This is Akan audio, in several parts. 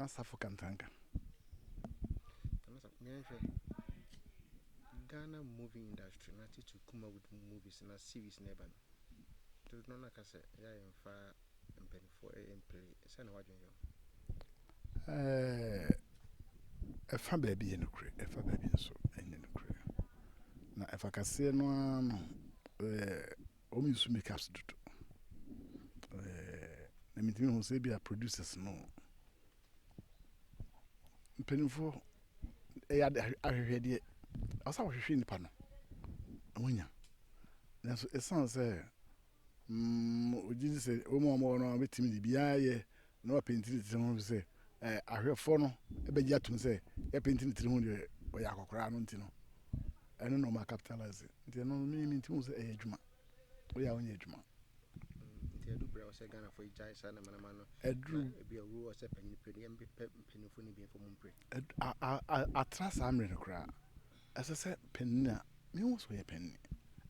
na asafo kantanka ghana movie industry na tete kuma with movies na series na ɛba no dodo no na ka sɛ ɛyɛ a yɛmfa mpanyinfoɔ Ɛfa baabi yɛ nokorɛ, ɛfa baabi nso nyɛ nokorɛ. Na ɛfa kaseɛ no ara no, wɔn nsu make up dodo. Na metumi hu sɛ ebia producers no, mpanimfoɔ ɛyɛ ade ahwehwɛdeɛ, ɛwɔ sɛ wɔhwehwɛ nnipa no, na wɔnya. Nanso ɛsiane sɛ mm, ogye dzi sɛ Ɔwɔ mu a wɔwɔ no ara betumi dze biribiara ayɛ na wɔapenti ne tsir ho efisɛ eh, ahwɛfo no bɛgye ato mu sɛ yɛapenti ne tsir ho deɛ ɔyɛ akɔkoraa no nti no ɛno na ɔma capitalize nti ɛno no menye mentimi hu sɛ ɛyɛ adwuma woyɛ a wonyɛ adwuma nti ɛdu berɛ ɔsɛ ghanafoɔ yi gyae saa namanama no ɛduru ebi awu ɔsɛ panyini pɛ yɛmpɛ mpanyinfoɔ no bi mfɔ mu mpere atra saa mmerɛ no koraa Ɛsɛ sɛ panin a mehu sɛ ɔyɛ panin,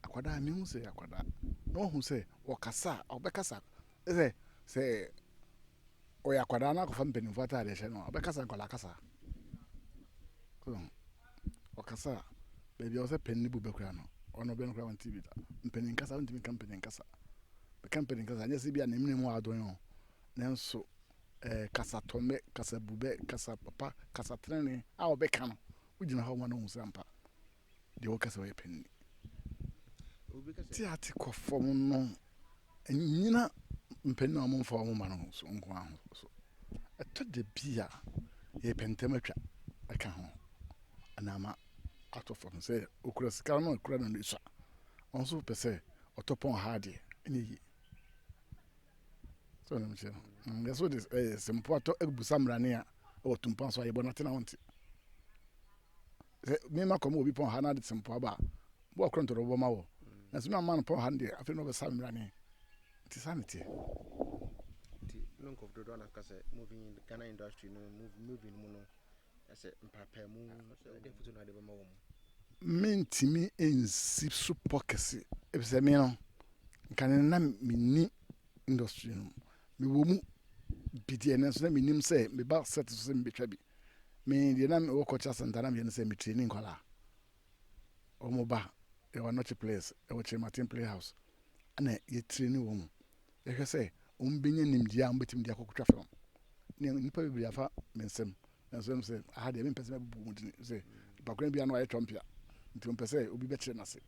akwadaa a mehu sɛ ɔyɛ akwadaa, na wahu sɛ ɔkasa a ɔbɛkasa sɛ sɛ ɔyɛ akwadaa na akɔfa mpanimfoɔ ataadeɛ hyɛ no a, ɔbɛkasa nkwadaa kasa. Ɔkasa a, baabi a ɔsɛ panin bu bɛ kura no, ɔno bɛ no kura ɔnte bi da. Mpanin kasa, wontumi nka mpanin kasa. Bɛka mpanin kasa a, ɛnyɛ sɛ bi a ne mene mu wɔ adwene o, nanso ɛɛ kasatɔmmɛ, kasabubɛ, kasa papa, kasa tenenee a ɔbɛka no, Wogyina hɔ ma no hu sɛ ampa deɛ woka sɛ woyɛ pɛ nni. Teate kɔ fam no nnyina mpanin a wɔmfa wɔn mma no so nko ara ho so. Ɛtɔ da bi a yɛpɛ ntɛm atwa ɛka ho anaa ma atɔ fam sɛ okura sika no akura no no sua. Wɔn nso pɛ sɛ ɔtɔ pɔn ha adeɛ ɛnyɛ yie. Sɛ ɔnam kyerɛ no. Yɛsɛ wode simpo atɔ abusa mmara ne a wɔ tumpa so a yɛbɔ no ate na ɔnte. Sɛ mema kɔm wɔ obi pɔn ha na ade te mpoa ba a, bo a korɔntɔ na ɔbɛbɔ ma wɔ. Nanso me amma no pɔn ha no deɛ, afei na ɔbɛsa me mmrane. Nti saa na ɛteɛ. Nti na nkurɔfo dodoɔ na ka sɛ movie Ghana industry no movie no mu no ɛsɛ mpaapaemu ɛde afotu na ade bɛma wɔn. Mentumi nsi so pɔ kɛse efisɛ me no nka no na menni industry no mu. Mewɔ mu bi deɛ nanso na menim sɛ meba set so sɛ mebɛtwa bi. Me deɛ na mewɔ culture center na meyɛ no sɛ metrani nkwadaa. Wɔn ba yɛwɔ anɔkye players ɛwɔ Kyerematen playhouse ɛna yɛtrani wɔn mu. Yɛhwɛ sɛ wɔbɛnya nimdeɛ a wɔbɛtumi de akɔtwa film. Nnipa bebree afa me nsam. Nanso ɛwom sɛ aha deɛ mempɛ sɛ mɛbobɔ mu din sɛ mpakora biara na wayɛ twɔmpea nti ɔmpɛ sɛ obi bɛkyerɛ no ase.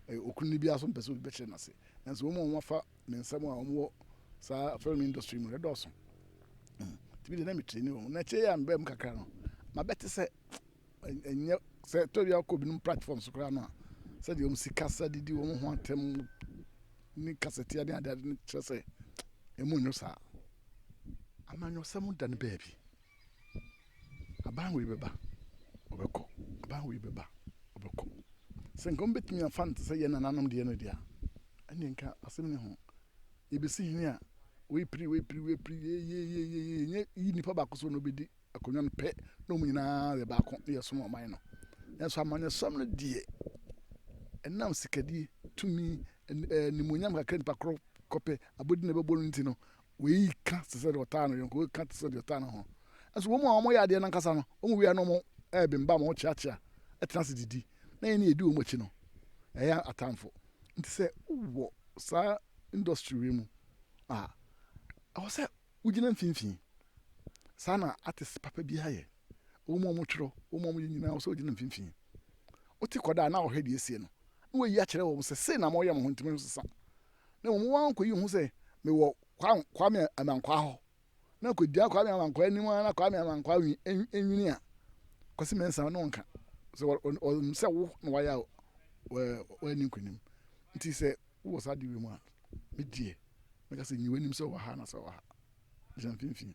Ɛyɛ okunu no biara nso mpɛ sɛ obi bɛkyerɛ no ase. Nanso wɔn a wɔafa me nsɛm a wɔwɔ saa film industry mu no dɔɔso. Nti me deɛ na metraini wɔn. Na akyire yi a mebaa mu kakra no, mabɛte sɛ Ɛnyɛ sɛ ɛtɔ bi akɔ binom platform so koraa no a, sɛdeɛ wɔn sikasa didi wɔn ho atɛm ne kasatia ne adeade no kyerɛ sɛ ɛmu nyɛ saa. Amanyɔsɛm da no baabi. Aban wei bɛba, ɔbɛkɔ. Aban wei bɛba, ɔbɛkɔ. Sɛ nka wɔbɛtumi afa no te sɛ yɛn nananom deɛ no deɛ a, ɛnneɛ nka asɛm ne ho. Yɛbɛsi hene a, wei piri, wei piri, wei piri, yeyeyeyeye, ɛnyɛ yi nipa baako so na ɔbɛdi akonnwa no pɛ na wɔn nyinaa yɛ baako na yɛsom ɔman no. Nanso amanyɔsɛm no deɛ, ɛnam sikadie, tumi, animuonyam kakra nipa korɔ kɔpɛ abɔdi na ɛbɛbɔ no nti no, wei ka te sɛ deɛ ɔtaa no yɔnko, wei ka te sɛ deɛ ɔtaa ne ho. Nanso wɔn a wɔyɛ adeɛ no ankasa no, wɔn wie a na wɔn ɛrebembam, wɔn kyeakyea, ɛtena ase didi, na yɛn ne yɛdi wɔn akyi no, ɛyɛ atamfo. Nti sɛ wowɔ saa industry wei mu a, ɛwɔ sɛ Wogyina mfimfini. Saa na artist papa biara yɛ. Wɔn a wɔtwerɛ, wɔn a wɔyɛ nyinaa, ɛwɔ sɛ wɔgyina mfimfini. Wote kɔda a na wɔhwɛ deɛ ɛsie no, na wɔayi akyerɛ wɔn sɛ sei na moreyɛ mo ho nti monsesa. Na mmom wɔn ara kɔyi wɔn ho sɛ mewɔ Kwame Amankwaa hɔ, na kɔgyina Kwame Amankwaa anim ara na Kwame Amankwaa nwini a, Kwasi Mensah ne wo nka. Sɛ ɔnim sɛ wo na woayɛ a, wadi nkonim. Nti sɛ wowɔ saa adeɛ wei mu a, Me deɛ, mɛka sɛ nyi w'anim sɛ ɔwɔ ha anaasɛ ɔwɔ ha. Gyina mfimfini.